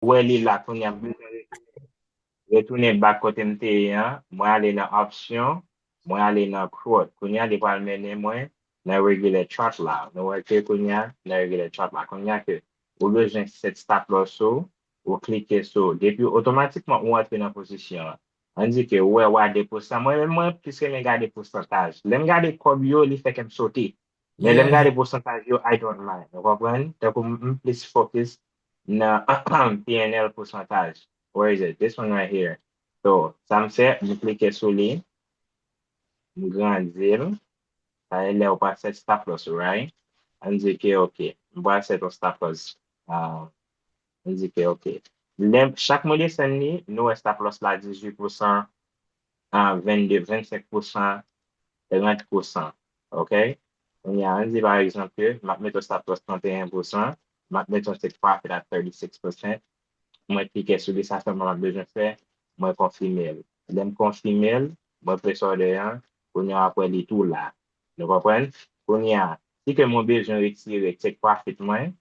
wè li la kounya m bezwen retounen retounen back kotem te ye an mwen ale nan option mwen ale nan quote kounya li pral mennen mwen nan regular chart la nou wè ke kounya nan regular chart la kounya ke ou bezwen set stop loss ou ou klike sou depi otomatikman ou antre nan pozisyon an an di ke ou wè wa 2 pousan mwen menm mwen plis renmen gade pousantaj lèm gade kòb yo li fè kèm sote Men lè m gade pousantaj yo I don't mind. Ou konprann? Tankou m m plis fokis nan pnl pousantaj. Where is it? This one right here. So, sa m fè, m klike sou li, m grandi l. Sa e lè ou pral sèt stop loss ou right? An n di ke ok. M pral sèt yon stop loss. An n di ke ok. Lè m, chak mwen desann li, nou wè stop loss la 18 pousan, a 22 25 pousan 30 pousan ok kounye a an di pa egzanp ke map mete yon stop loss 31 pousan map mete yon take profit a 36 percent mwen klike sou li sa sèlman map bezwen fè mwen konfimel lèm konfimel mwen place order an kounye a wap wè li tou la nou konprann kounye a si ke mwen bezwen retire take profit mwen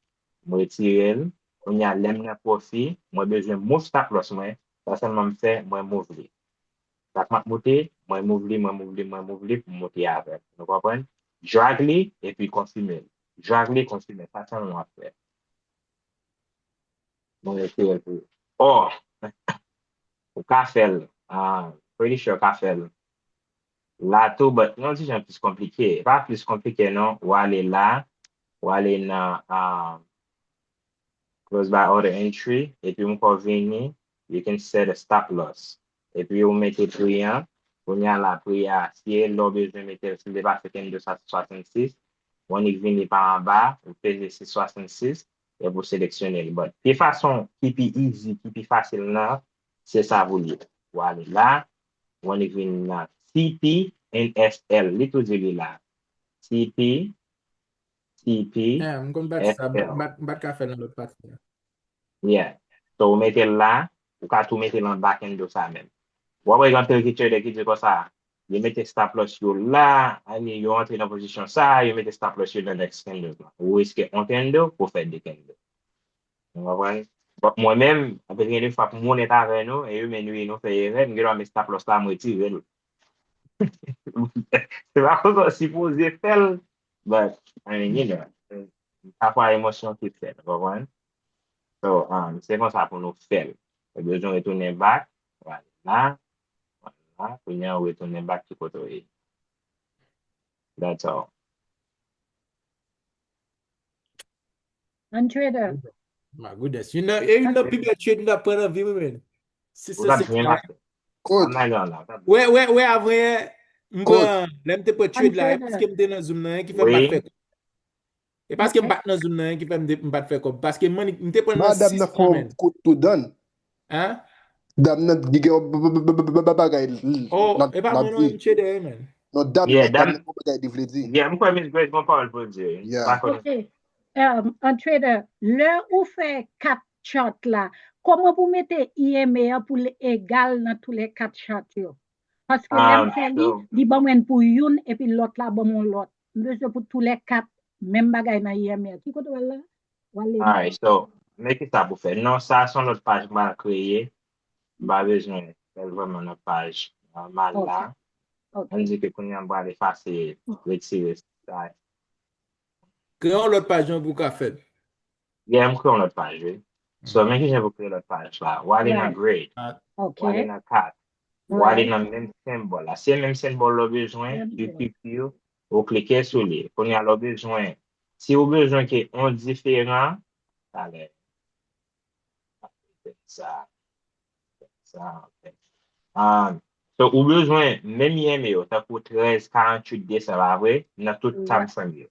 mretirel kounye a lèm nan profi mwen bezwen move stop loss mwen Sa sèlman m fè, mwen mouvli. Sak map moute, mwen mouvli, mwen mouvli, mwen mouvli pou m moute avè l. Nou konprann? Drag li epi konfime l. Drag li, konfime l. Sa sèlman wap fè. Mwen retire l pou ou. Oh! Ou ka fè l. I'm pretty sure ou ka fè l la tou but yon ti jan plis konplike. E pa plis konplike non. Ou ale la, ou ale nan close by order entry epi m kò vini you can set a stop loss epi ou mete pri an kounya la pri a si e lè w bezwen mete l si l depase keny de sa se 66 ou annik vini pa anba ou peze 6 66 epi ou seleksyone l but pi fason ki pi easy ki pi fasil nan se sa pou l ye. Ou ale la ou annik vini nan TP and SL li tou di li la TP. TP, Ah, m konn pati sa, m FL. pat m pat ka fè l nan lòt pati a. Yeah. So ou mete l la, ou ka tou mete l anba candle sa menm. Ou ap wè gen anpil ki trader ki di konsa, yo mete stop loss yo la, I mean yo antre nan pozisyon sa, yo mete stop loss yo nan next candle la. Ou riske on candle pou w fè de candle. Nou konprann? But mwen menm, anpil gen de fwa pou m onèt avè nou, e yo men nou ye nou fè erè, m gen dwa met stop loss la, m retire l. Se pa konsa w sipoze fè l. But, I mean, you know, pafwa emosyon ki fèt, ou konprann? So, um, se konsa pou nou fèl. Ou bezwen retounen bak, ou ale la, ou ale la, kounya ou retounen bak ki kote ou ye. That's all. An trade up. My goodness. Youn nan, e youn nan pi bèl trade m ta pran nan vi mwen men. Si sa se pa. Kot? Wè, wè, wè avan yè. M pran, lè m te pran trade la, e paske m te nan zoom nan, e ki fè m pa t fè kob. E paske m pa t nan zoom nan, e ki fè m pa t fè kob. Paske m te pran nan 600 men. Madam nan fè yon kout tou dan. Hein? Dam nan gen yon bagay l Oh, e pa mwen non e misye dèyè menn. Non dam nan gen yon bagay li vle di. Yeah, m kwè Miss Grace gon pawòl pou l di wi. Yeah. Ok, an Trader, lè ou fè 4 chart la, kòman pou mete EMA an pou l egal nan tou lè 4 chart yo? Paske lè m fè li, li ban mwen pou youn epi lòt la ban m yon lòt. M bezwen pou tou lè 4 menm bagay nan IMR. Ki kote w al la? W al leve. Alright so, men kisa pou fè. Non sa son lòt paj m pral kreye. M pa bezwen fè l vrèman nan paj nòmal la. Ok. Ann di ke kounye a m pral efase, retire sa. Kreye yon lòt paj non pou w ka fè l. Yeah, m kreye yon lòt paj wi. So, men kijan pou kreye lòt paj la. W ale nan Grade. Ok. W ale nan 4. Ou ale nan menm senbòl la. Se menm senbòl la ou bezwen, you picture, ou klike sou li. Kounye a la ou bezwen, si ou bezwen ke on diferan, talè, fè sa, fè sa, fè sa. So ou bezwen menm yeme yo, tankou 13, 48, 200 pa vre, nan tout Samsung yo.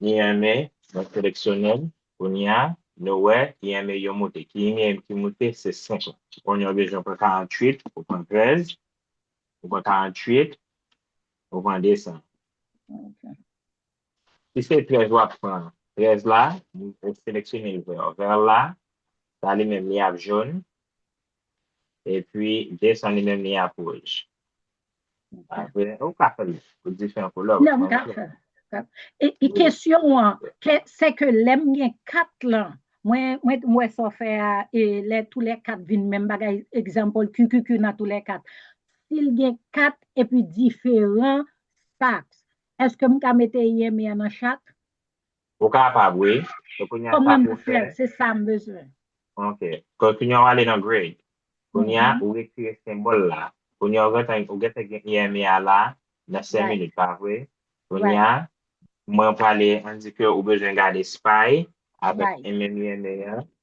Ki eme mwen seleksyonel kounya nou wè ki eme yo moute ki eme ki moute se 5 la. Ou konnen ou bezwen pran 48 ou pran 13 ou pran 48 ou pran 200. Ok. Si se 13 wap pran 13 la ou seleksyonel vè vè la sa li menm li ap jaune Epi this one li menm li ap wouj. Apre ou ka fè l pou diferan koulè. Nan m ka fè l. E kesyon an se ke lè m gen 4 lan mwen wè sa w fè a lè tou lè 4 vin menm bagay example QQQ nan tou lè 4. Si l gen 4 epi diferan saks eske m ka mete yen m yan nan chak? Ou kapab wi. So kounye a sa pou w fè. Se sa m bezwen. Ok. So kounye a w ale nan Grade. Kounye a ou retire senbòl la. Kounye a ou gentan gen IME a la nan 5 minit pa vre. Kounye a mwen prale an di ke ou bezwen gade Spy avèk MMIME a.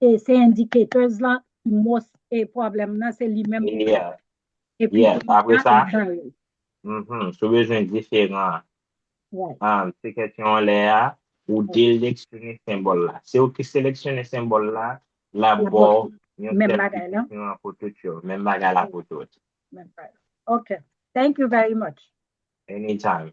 Se indicators la ki most problem nan se li menm ki fè. Yes apre sa sou bezwen diferan an se kesyon an lè a ou deleksyone senbòl la. Se ou ki seleksyone senbòl la la baw yon sèl desisyon an pou tout yo. Menm bagay la pou tout. Ok thank you very much. Anytime.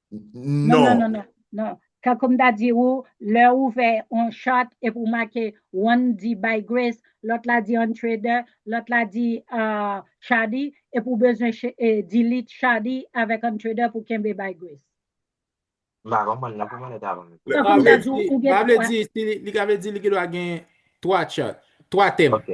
Non, non, non, non, non. Tankoum ta di ou, lè ou vè on chart epi ou make one di Bay Grace, lòt la di on Trader, lòt la di Chadi, epi ou bezwen delete Chadi avèk on Trader pou kenbe Bay Grace. M pa konprann nan, pou mwen lè ta ban m. Tankoum ta di ou gen 3. M pa vle di, li ka vle di li gen dwa gen 3 chart, 3 tèm. Ok.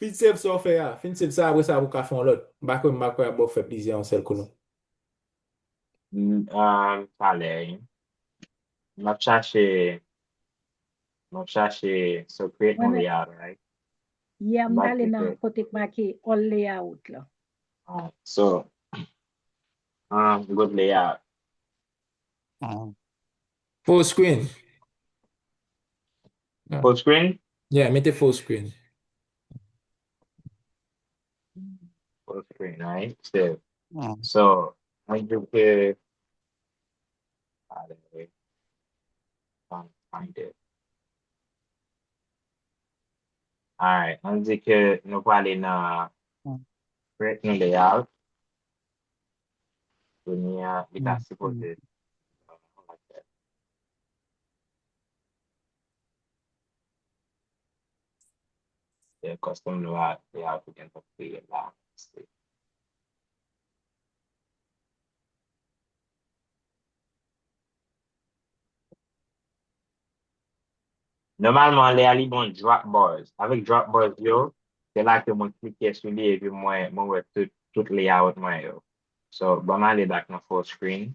Fin save sa w fè a. Fin save sa apre sa pou w ka fè yon lòt. M pa kwè m pa kwè ap ba w fè plizyè yon sèl kou non. Umm talè ui map chache map chache secret on layout right yeah m tale nan kote k make all layout lan ah so umm good layout umm full screen. Full screen? Yeah, mete full screen. Full screen, right? Save. Hmm. So, mwen jwe ke... Ale, I'll find it. Alright, mwen di ke nou pale nan Hmm. create new layout. Konya, li ta Hmm. sipoze... Fè kòstòm nou a fè a pou gen nou kreye la. Se. Nòmalman lè a li bon drop bars. Avèk drop bars yo, se la ke mwen klike sou li epi mwen mwen wè tout tout layout mwen yo. So, banm ale back nan full screen.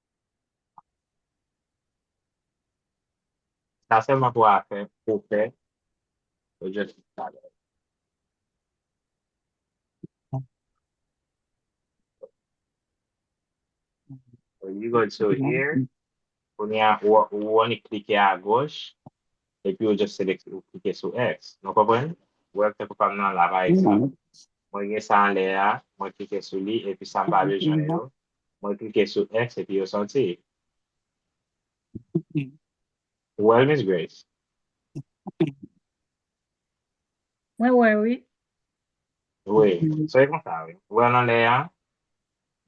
Sa selman pou afè pou fè yo just di sa lè. So you go to here kounye a ou only klike a goch epi ou just selekte ou klike sou X nou konprann? Wèl tankou pam nan la pa egzanp mwen gen sa anlè a mwen klike sou li epi sam pa bezwen yo Mwen klike sou X epi yo sòti. Ou wèl Miss Grace? Mwen wè wi. Wi, se konsa wi. Ou wèl anlè a?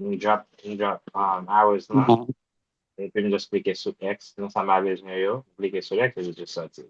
M drop m drop um hours lan epi m just klike sou X nan sa ma bezwen yo. M klike sou X epi yo just sòti.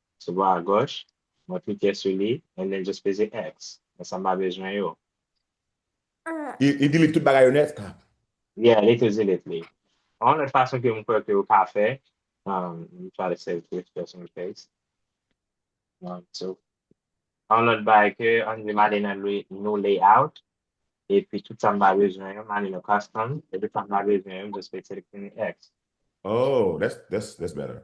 Sou bò a gòch, mwen klike sou li and then just peze X. Men sa mpa bezwen yo. Li delete tout bagay yo nèt kap. Yeah, li tou delete li. Yon lòt fason ke mkwè ke ou ka fè, let me try to save this just in case. Yon lòt bagay ke, ann di male nan new layout, epi tout sa mpa bezwen yo, male nan custom, epi tout sa mpa bezwen yo, m just klike sou li, peze X. Oh, that's better.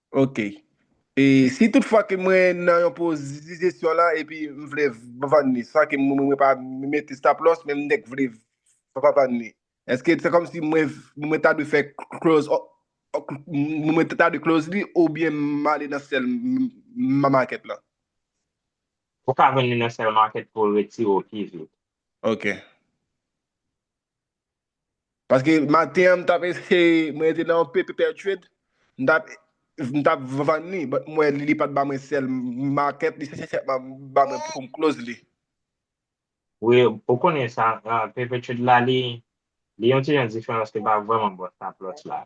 Ok. E si tout fwa ke mwen nan yon pozisyon la epi m vle vann li san ke mwen pa mete stop loss men m dèk vle vann li. Eske se kòmsi mwen ta dwe fè close mwen ta dwe close li oubyen m ale nan sell market la? Ou ka vann li nan sell market pou retire w pi vit. Ok. Paske maten an m tap eseye mwen rete nan yon pepe pertued m tap m tap vann li but m wè li pat ba mwen sèl market li sèlman ba mwen poum close li. Wi ou konnen sa pepe tued la li li yon ti jan diferan paske li pa vrèman bon sa plus la.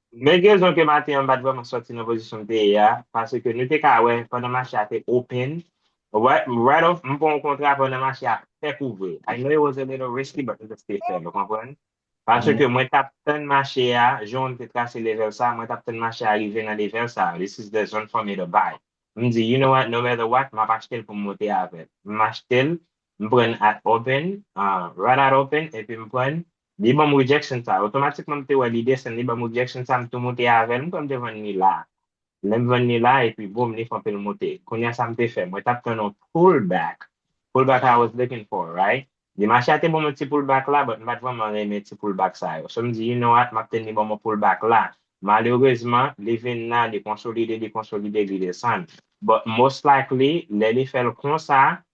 Men rezon ke maten an m pat vrèman sòti nan pozisyon m te ye a, pase ke nou te ka wè pandan mache a te open, right off m pran yon kontra pandan mache a fèk ouvri, I know it was a little risky but m just te fèl ou konprann, pase ke mwen tap tann mache a, jan w te trase level sa, mwen tap tann mache a rive nan level sa, this is the zone for me to buy, m di you know what no matter what map achte l pou m moute avèl, m achte l, m prann at open, right at open epi m prann, Li banm rejection sa. Otomatikman m te wè lide sen li banm rejection sa m tou moute avèl m kwè m te vann li la. Lèm vann li la epi boom li fon pil moute. Kounya sa m te fè? Mwen tap tann on pull back. Pull back I was looking for right? Di mache a te banm on ti pull back la but m pat vrèman renmen ti pull back sa yo. So m di you know what map tann li banm on pull back la. Malerezman li vin la li konsolide li konsolide li desann. But most likely lè li fèl konsa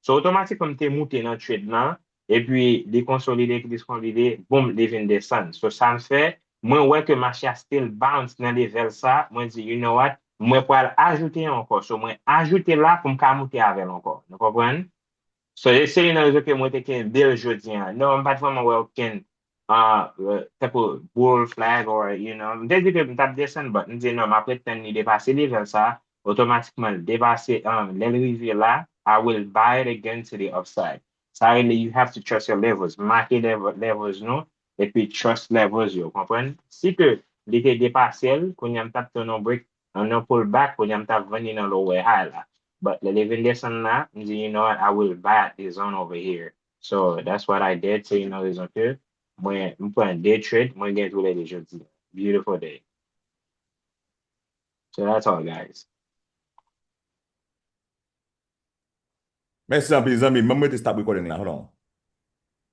So otomatikman m te moute nan trade lan epi li konsolide epi diskonlide boom li vin desann so sa m fè mwen wè ke mache a still bounce nan level sa mwen di you know what mwen pral ajoute yon ankò so mwen ajoute la pou m ka moute avèl ankò nou konprann so se youn nan rezon ke mwen te kenbel jodi an non m pat vrèman wè okenn tankou boule flag or you know m te di ke m tap desann but m di non map ret tann li depase level sa otomatikman l depase lè l rive la I will buy it again to the upside sa rele you have to trust your levels make levels nou epi trust levels yo konprann si ke li te depase l kounya m tap tann yon break an yon pull back kounya m tap vann li nan lower high la but lè li vin desann la m di you know what I will buy at this zone over here So that's what I did se youn nan rezon ke mwen m pran 2 trade mwen gen tou le 2 jodi beautiful day so that's all guys. Mèsi anpil zanmim, banm rete stop recording la hold on.